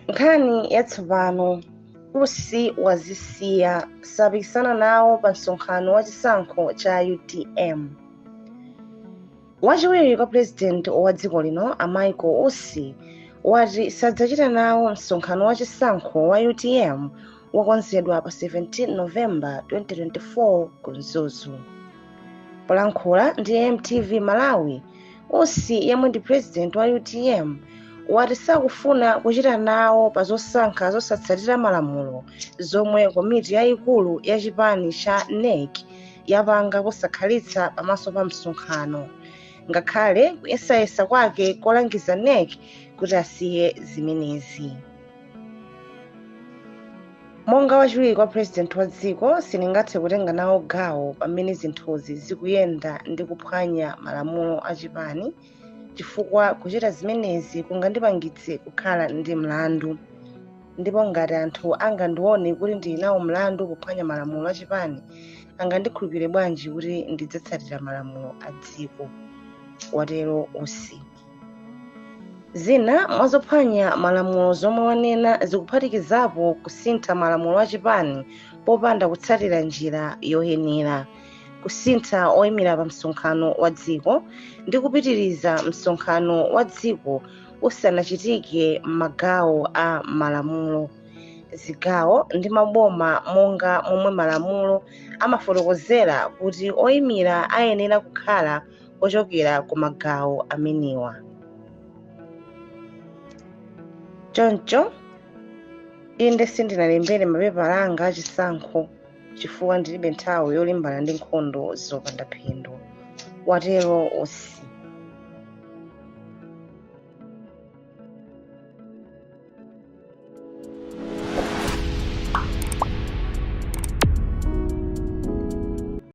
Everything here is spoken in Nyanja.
nkhani yatsopano usi wazisiya sapikisana nawo pa msonkhano wa chisankho cha utm wachiwiri kwa pulezidenti wa dziko lino a michael usi wati sadzachita nawo msonkhano wa chisankho wa utm wokonzedwa pa 17 novemba 2024 ku mzuzu polankhula ndi mtv malawi usi yemwe ndi president wa utm wati sakufuna kuchita nawo pa zosankha zosatsatira malamulo zomwe komiti yayikulu ya chipani cha nec yapanga posakhalitsa pamaso pa msonkhano ngakhale kuyesayesa kwake kolangiza nec kuti asiye zimenezi monga wachiwiri kwa purezidenti wa dziko sindingathe kutenga nawo gawo pamene zinthuzi zikuyenda ndi kuphwanya malamulo a chipani chifukwa kuchita zimenezi kungandipangitse kukhala ndi mlandu ndipo ngati anthu angandione kuti ndili nawo mlandu kuphwanya malamulo a chipani angandikhulupirire bwanji kuti ndidzatsatira malamulo a dziko watero usi zina mwa zophwanya malamulo zomwe wanena zikuphatikizapo kusintha malamulo a chipani popanda kutsatira njira yoyenera kusintha oyimira pa msonkhano wa dziko ndi kupitiriza msonkhano wa dziko usanachitike m'magawo a malamulo zigawo ndi maboma monga momwe malamulo amafotokozera kuti oyimira ayenera kukhala ochokera ku magawo amenewa choncho inde sindinalembere mapepala anga achisankho chifukwa ndilibe nthawi yolimbana ndi nkhondo zopanda phindu watero usi